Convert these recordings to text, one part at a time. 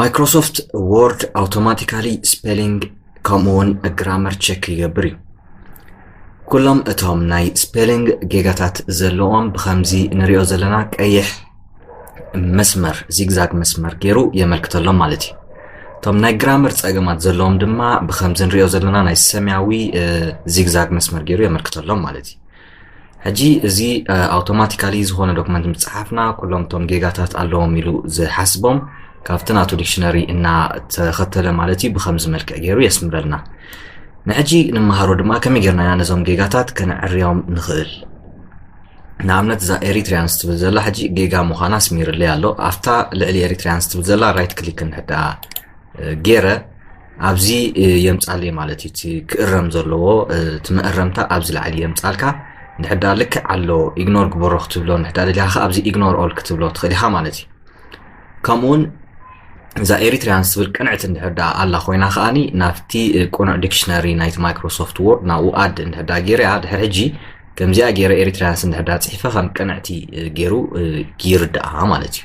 ማይክሮሶፍት ወርድ ኣውቶማቲካሊ ስፔሊንግ ከምኡውን ግራመር ቸክ ይገብር እዩ ኩሎም እቶም ናይ ስፔሊንግ ጌጋታት ዘለዎም ብከምዚ ንሪኦ ዘለና ቀይሕ መስመር ዚግዛግ መስመር ገይሩ የመልክተሎም ማለት እዩ እቶም ናይ ግራመር ፀገማት ዘለዎም ድማ ብከምዚ ንሪኦ ዘለና ናይ ሰማያዊ ዚግዛግ መስመር ገይሩ የመልክተሎም ማለት እዩ ሕጂ እዚ ኣውቶማቲካሊ ዝኾነ ዶክመንት ምፅሓፍና ኩሎም እቶም ጌጋታት ኣለዎም ኢሉ ዝሓስቦም ካብቲ ናቱ ዲክሽነሪ እናተኸተለ ማለት እዩ ብከምዚ መልክዕ ገይሩ የስምረልና ንሕጂ ንመሃሮ ድማ ከመይ ጌርና ኢና ነዞም ጌጋታት ከነዕርዮም ንኽእል ንኣብነት እዛ ኤሪትርያንስ ትብል ዘላ ሕጂ ጌጋ ምዃና ኣስሚርለይ ኣሎ ኣብታ ልዕሊ ኤሪትርያንስ ትብል ዘላ ራይት ክሊክ እንሕዳ ጌረ ኣብዚ የምጻለይ ማለት እዩ እቲ ክእረም ዘለዎ እቲ መእረምታ ኣብዚ ላዕሊ የምጻልካ ንሕዳ ልክዕ ኣሎ ኢግኖር ግበሮ ክትብሎ ንሕዳ ደሊኻ ከ ኣብዚ ኢግኖር ኦል ክትብሎ ትኽእል ኢኻ ማለት እዩ ከምኡውን እዛ ኤሪትርያን ዝብል ቅንዕቲ እንድሕዳ ኣላ ኮይና ከዓኒ ናብቲ ቁኑዕ ዲክሽነሪ ናይቲ ማይክሮሶፍት ዎርድ ናብኡ ኣድ እንድሕዳ ገይረያ ድሕር ሕጂ ከምዚኣ ገይረ ኤሪትራያን ስንድሕዳ ጽሒፈ ከም ቅንዕቲ ገይሩ ይርድኣ ማለት እዩ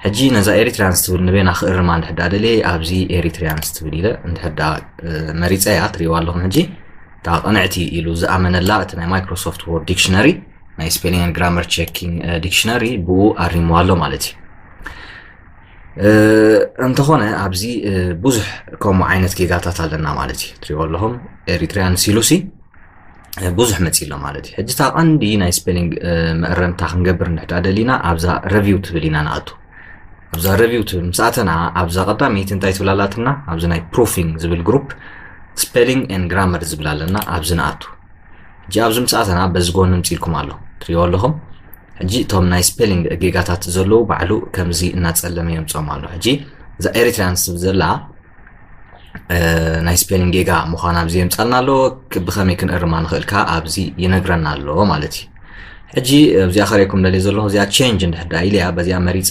ሕጂ ነዛ ኤሪትራያንስ ትብል ንበይና ክእርማ እንድሕዳ ደልየ ኣብዚ ኤሪትራያንስ ትብል ኢለ እንድሕዳ መሪፀ እያ ትሪእዋ ኣለኹም ሕጂ እታ ቅንዕቲ ኢሉ ዝኣመነላ እቲ ናይ ማይክሮሶፍት ዎርድ ዲክሽነሪ ናይ ስፔሊንግ ግራመር ቼኪንግ ዲክሽነሪ ብኡ ኣሪምዋ ኣሎ ማለት እዩ እንተኾነ ኣብዚ ብዙሕ ከምኡ ዓይነት ጌጋታት ኣለና ማለት እዩ ትሪእዎ ኣለኹም ኤሪትራያን ሲሉሲ ብዙሕ መፂ ኣሎ ማለት እዩ ሕጂ እታ ቀንዲ ናይ ስፔሊንግ መእረምታ ክንገብር ንሕዳ ደሊና ኣብዛ ረቪው ትብል ኢና ንኣቱ ኣብዛ ረቪው ትብል ምስ ኣተና ኣብዛ ቀዳመይቲ እንታይ ትብል ኣላትና ኣብዚ ናይ ፕሩፊንግ ዝብል ግሩፕ ስፔሊንግ ን ግራመር ዝብል ኣለና ኣብዚ ንኣቱ ሕጂ ኣብዚ ምስ ኣተና በዚ ጎኒ ምፅኢልኩም ኣሎ ትሪኦ ኣለኹም ሕጂ እቶም ናይ ስፔሊንግ ጌጋታት ዘለዉ ባዕሉ ከምዚ እናፀለመ የምፅኦም ኣሎ ሕጂ እዛ ኤሪትራያንስ ዘላ ናይ ስፔሊንግ ጌጋ ምዃና ኣብዚ የምፃልና ኣሎ ብኸመይ ክንእርማ ንኽእል ከዓ ኣብዚ ይነግረና ኣሎ ማለት እዩ ሕጂ እዚኣ ከሪኩም ደልየ ዘለኹ እዚኣ ቼንጅ እንድሕር ዳ ኢልያ በዚኣ መሪፀ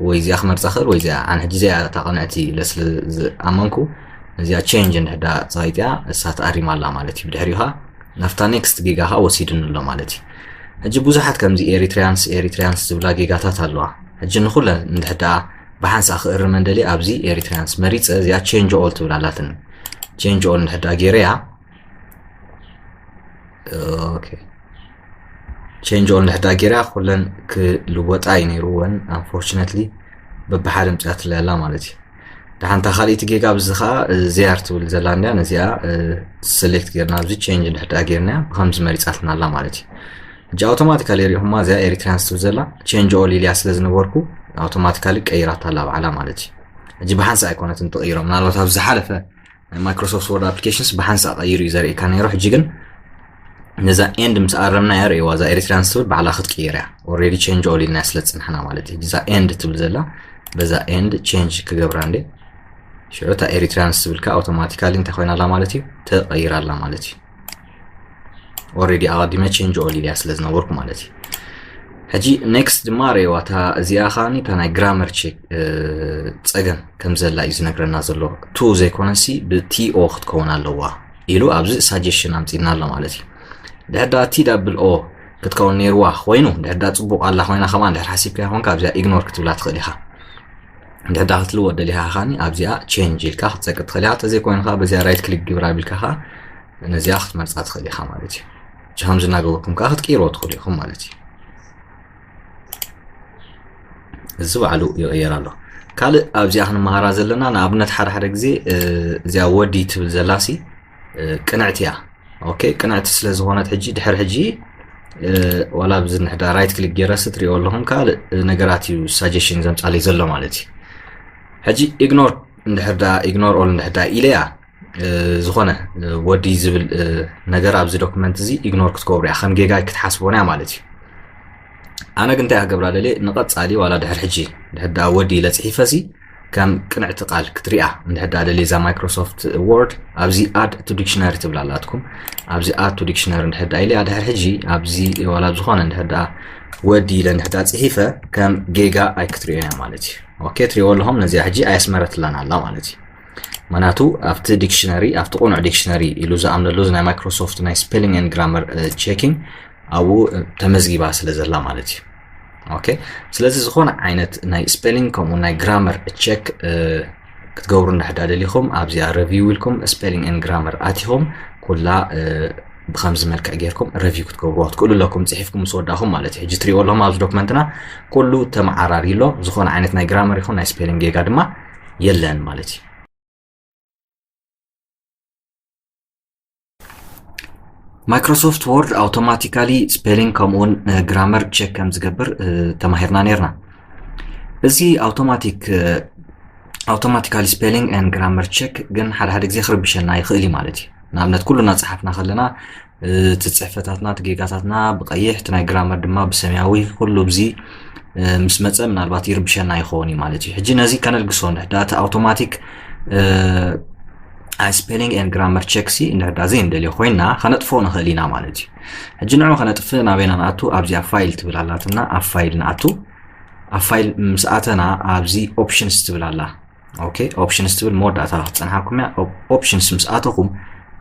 ወይ እዚኣ ክመርፃ ክእል ወይ እዚኣ ኣነ ሕጂ እዚኣ እታ ቅንዕቲ ኢለ ስለ ዝኣመንኩ እዚኣ ቼንጅ እንድሕር ዳ ፀቂጥያ እሳ ተኣሪማ ኣላ ማለት እዩ ብድሕሪኡ ከዓ ናብታ ኔክስት ጌጋ ከዓ ወሲድኒ ኣሎ ማለት እዩ ሕጂ ብዙሓት ከምዚ ኤሪትሪያንስ ኤሪትሪያንስ ዝብላ ጌጋታት ኣለዋ ሕጂ ንኩለን እንድሕር ዳ ብሓንሳእ ክእርመን ደልየ ኣብዚ ኤሪትሪያንስ መሪጸ እዚኣ ቼንጅ ኦል ትብል ኣላትኒ ቼንጅ ኦል እንድሕር ደኣ ገይረያ ኦኬ ቼንጅ ኦል እንድሕር ደኣ ገይረያ ኩለን ክልወጣ እዩ ነይሩወን ኣንፎርችነትሊ በብሓደ ምፅያትለይ ኣላ ማለት እዩ ደሓንታ ካልእቲ ጌጋ ኣብዚ ከዓ ዜኣር ትብል ዘላ እንድያ ነዚኣ ሰሌክት ጌርና ኣብዚ ቼንጅ እንድሕር ደኣ ገይርናያ ብከምዚ መሪጻትና ኣላ ማለት እዩ ሕጂ ኣውቶማቲካሊ ሪኹማ እዚኣ ኤሪትሪያንስ ትብል ዘላ ቼንጅ ኦል ኢልያ ስለ ዝነበርኩ ኣውቶማቲካሊ ቀይራታ ኣላ ባዕላ ማለት እዩ ሕጂ ብሓንሳ ኣይኮነትን ትቕይሮ ምናልባት ኣብ ዝሓለፈ ናይ ማይክሮሶፍት ወርድ ኣፕሊኬሽንስ ብሓንሳ ቀይሩ እዩ ዘርእካ ነይሩ ሕጂ ግን ነዛ ኤንድ ምስ ኣረምና እያ ርእዋ እዛ ኤሪትሪያንስ ትብል ባዕላ ክትቅይር እያ ኦልሬዲ ቼንጅ ኦል ኢልና ስለ ዝፅናሕና ማለት እዩ እዛ ኤንድ ትብል ዘላ በዛ ኤንድ ቼንጅ ክገብራ እንዴ ሽዑ እታ ኤሪትሪያንስ ትብልካ ኣውቶማቲካሊ እንታይ ኮይና ኣላ ማለት እዩ ተቐይራ ኣላ ማለት እዩ ኦልሬዲ ኣቐዲመ ቼንጅ ኦል ኢልያ ስለ ዝነበርኩ ማለት እዩ ሕጂ ኔክስት ድማ ረየዋ እታ እዚኣ ከዓኒ እታ ናይ ግራመር ቼክ ፀገም ከም ዘላ እዩ ዝነግረና ዘሎ ቱ ዘይኮነሲ ብቲኦ ክትከውን ኣለዋ ኢሉ ኣብዚ ሳጀሽን ኣምፂና ኣሎ ማለት እዩ ድሕዳ ቲ ዳብል ኦ ክትከውን ነይርዋ ኮይኑ ድሕዳ ፅቡቅ ኣላ ኮይና ከማ ድሕር ሓሲብካ ይኮንካ ኣብዚኣ ኢግኖር ክትብላ ትኽእል ኢኻ እንድሕር ዳኣ ክትልወጥ ደሊኻ ኻኒ ኣብዚኣ ቼንጅ ኢልካ ክትፀቂ ትኽእል ኢኻ ተዘይ ኮይንካ በዚኣ ራይት ክሊክ ግብር ኣቢልካ ኻ ነዚኣ ክትመርፃ ትኽእል ኢኻ ማለት እዩ እዚ ከምዚ እናገበርኩም ከዓ ክትቅይርዎ ትኽእሉ ኢኹም ማለት እዩ እዚ ባዕሉ ይቕየር ኣሎ ካልእ ኣብዚኣ ክንመሃራ ዘለና ንኣብነት ሓደ ሓደ ግዜ እዚኣ ወዲ ትብል ዘላሲ ቅንዕቲ እያ ኦኬ ቅንዕቲ ስለ ዝኾነት ሕጂ ድሕር ሕጂ ዋላ ብዚ ንሕዳ ራይት ክሊክ ጌረስ ትሪኦ ኣለኹም ካልእ ነገራት እዩ ሳጀሽን ዘምፃለይ ዘሎ ማለት እዩ ሕጂ ኢግኖር እንድሕር ዳ ኢግኖር ኦል እንድሕር ዳ ኢለያ ዝኾነ ወዲ ዝብል ነገር ኣብዚ ዶክመንት እዚ ኢግኖር ክትገብሩ እያ ከም ጌጋ ክትሓስቦን እያ ማለት እዩ ኣነ ግን እንታይ ክገብራ ደልየ ንቐፃሊ ዋላ ድሕር ሕጂ ድሕር ድኣ ወዲ ኢለ ፅሒፈሲ ከም ቅንዕቲ ቃል ክትሪኣ እንድሕር ድኣ ደልየ እዛ ማይክሮሶፍት ወርድ ኣብዚ ኣድ ቱ ዲክሽነሪ ትብል ኣላትኩም ኣብዚ ኣድ ቱ ዲክሽነሪ እንድሕር ድኣ ኢለያ ድሕር ሕጂ ኣብዚ ዋላ ኣብ ዝኾነ እንድሕር ድኣ ወዲ ኢለ እንድሕር ድኣ ፅሒፈ ከም ጌጋ ኣይክትሪኦ እያ ማለት እዩ ኦኬ ትሪእዎ ኣለኹም ነዚኣ ሕጂ ኣየስመረትላን ኣላ ማለት እዩ ምክንያቱ ኣብቲ ዲክሽነሪ ኣብቲ ቁኑዕ ዲክሽነሪ ኢሉ ዝኣምነሉ ናይ ማይክሮሶፍት ናይ ስፔሊንግ ን ግራመር ቼኪንግ ኣብኡ ተመዝጊባ ስለ ዘላ ማለት እዩ ኦኬ ስለዚ ዝኾነ ዓይነት ናይ ስፔሊንግ ከምኡ ናይ ግራመር ቸክ ክትገብሩ እንድሕዳ ደሊኹም ኣብዚኣ ረቪው ኢልኩም ስፔሊንግ ን ግራመር ኣቲኹም ኩላ ብከምዚ መልክዕ ጌርኩም ረቪው ክትገብርዎ ትክእሉ ኣለኩም ፅሒፍኩም ምስ ወዳእኹም ማለት እዩ ሕጂ ትሪእዎ ኣለኹም ኣብዚ ዶክመንትና ኩሉ ተመዓራሪ ኣሎ ዝኾነ ዓይነት ናይ ግራመር ይኹን ናይ ስፔሊንግ ጌጋ ድማ የለን ማለት እዩ ማይክሮሶፍት ወርድ ኣውቶማቲካሊ ስፔሊንግ ከምኡውን ግራመር ቼክ ከም ዝገብር ተማሂርና ነርና እዚ ኣውቶማቲክ ኣውቶማቲካሊ ስፔሊንግ ን ግራመር ቼክ ግን ሓደ ሓደ ግዜ ክርብሸና ይኽእል እዩ ማለት እዩ ንኣብነት ኩሉና ፀሓፍና ከለና እቲ ጽሕፈታትና እቲ ጌጋታትና ብቀይሕ እቲ ናይ ግራመር ድማ ብሰማያዊ ኩሉ ብዚ ምስ መጸ ምናልባት ይርብሸና ይኸውን እዩ ማለት እዩ ሕጂ ነዚ ከነልግሶ ንሕዳ እቲ ኣውቶማቲክ ስፔሊንግ ኤን ግራመር ቸክ ሲ ንሕዳ ዘይንደልዮ ኮይና ከነጥፎ ንኽእል ኢና ማለት እዩ ሕጂ ንዑ ከነጥፍ ናበይና ንኣቱ ኣብዚኣ ፋይል ትብል ኣላትና ኣብ ፋይል ንኣቱ ኣብ ፋይል ምስ ኣተና ኣብዚ ኦፕሽንስ ትብል ኣላ ኦኬ ኦፕሽንስ ትብል መወዳእታ ክትፀንሓኩም እያ ኦፕሽንስ ምስ ኣተኹም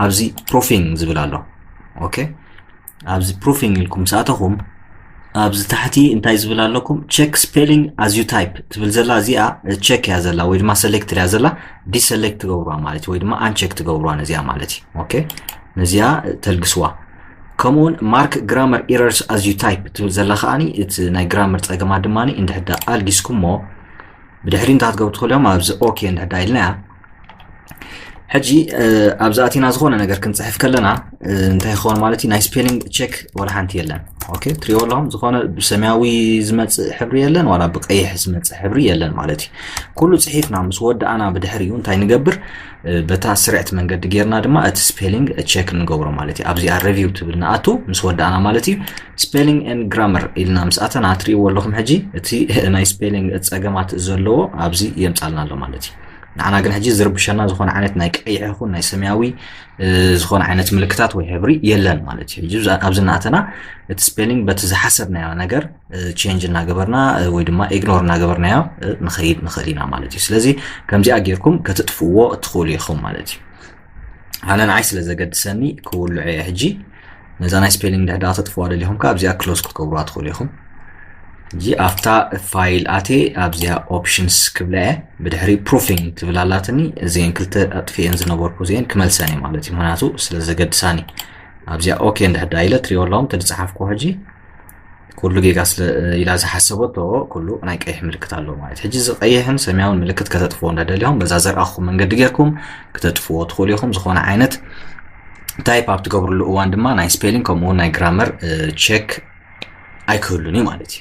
ኣብዚ ፕሩፊንግ ዝብል ኣሎ ኦኬ ኣብዚ ፕሩፊንግ ኢልኩም ምስ ኣተኹም ኣብዚ ታሕቲ እንታይ ዝብል ኣለኩም ቸክ ስፔሊንግ ኣዝ ዩ ታይፕ ትብል ዘላ እዚኣ ቸክ እያ ዘላ ወይ ድማ ሰሌክት እያ ዘላ ዲሰሌክት ትገብርዋ ማለት እዩ ወይ ድማ ኣንቸክ ትገብርዋ ነዚኣ ማለት እዩ ኦኬ ነዚኣ ተልግስዋ ከምኡውን ማርክ ግራመር ኢረርስ ኣዝ ዩ ታይፕ ትብል ዘላ ከዓኒ እቲ ናይ ግራመር ፀገማት ድማ እንድሕዳ ኣልጊስኩሞ ብድሕሪ እንታይ ክትገብሩ ትኽእሉ እዮም ኣብዚ ኦኬ እንድሕዳ ኢልናያ ሕጂ ኣብዚ ኣቲና ዝኾነ ነገር ክንፅሕፍ ከለና እንታይ ይኸውን ማለት እዩ ናይ ስፔሊንግ ቼክ ዋላ ሓንቲ የለን ኦኬ ትሪኦ ኣለኹም ዝኾነ ብሰማያዊ ዝመፅእ ሕብሪ የለን ዋላ ብቀይሕ ዝመፅእ ሕብሪ የለን ማለት እዩ ኩሉ ፅሒፍና ምስ ወዳእና ብድሕሪኡ እንታይ ንገብር በታ ስርዕቲ መንገዲ ጌርና ድማ እቲ ስፔሊንግ ቸክ ንገብሮ ማለት እዩ ኣብዚኣ ረቪው ትብል ንኣቱ ምስ ወዳእና ማለት እዩ ስፔሊንግ ን ግራመር ኢልና ምስ ኣተና ትርእይዎ ኣለኹም ሕጂ እቲ ናይ ስፔሊንግ ፀገማት ዘለዎ ኣብዚ የምፃልና ኣሎ ማለት እዩ ንዓና ግን ሕጂ ዝርብሸና ዝኾነ ዓይነት ናይ ቀይሕ ይኹን ናይ ሰማያዊ ዝኾነ ዓይነት ምልክታት ወይ ሕብሪ የለን ማለት እዩ ኣብዚ እናእተና እቲ ስፔሊንግ በቲ ዝሓሰብናዮ ነገር ቼንጅ እናገበርና ወይ ድማ ኢግኖር እናገበርናዮ ንኸይድ ንኽእል ኢና ማለት እዩ ስለዚ ከምዚኣ ጌርኩም ከትጥፍዎ እትኽእሉ ኢኹም ማለት እዩ ኣነ ንዓይ ስለ ዘገድሰኒ ክውልዑ እየ ሕጂ ነዛ ናይ ስፔሊንግ ድሕዳ ተጥፍዋ ደሊኹም ከ ኣብዚኣ ክሎዝ ክትገብሩዋ ትኽእሉ ኢኹም እዚ ኣብታ ፋይል ኣቴ ኣብዚኣ ኦፕሽንስ ክብላ እየ ብድሕሪ ፕሩፊንግ ትብል ኣላትኒ እዚአን ክልተ ኣጥፍኤን ዝነበርኩ እዚአን ክመልሰን እየ ማለት እዩ ምክንያቱ ስለ ዘገድሳኒ ኣብዚኣ ኦኬ እንድሕዳ ኢለ ትሪኦ ኣለኹም ተዝፀሓፍኩ ሕጂ ኩሉ ጌጋ ስለ ኢላ ዝሓሰበቶ ኩሉ ናይ ቀይሕ ምልክት ኣሎ ማለት ሕጂ እዚ ቀይሕን ሰማያውን ምልክት ከተጥፍዎ እንዳደሊኹም በዛ ዘርኣኹም መንገዲ ጌርኩም ክተጥፍዎ ትኽእሉ ኢኹም ዝኾነ ዓይነት ታይፕ ኣብ ትገብርሉ እዋን ድማ ናይ ስፔሊን ከምኡ ናይ ግራመር ቼክ ኣይክህሉን እዩ ማለት እዩ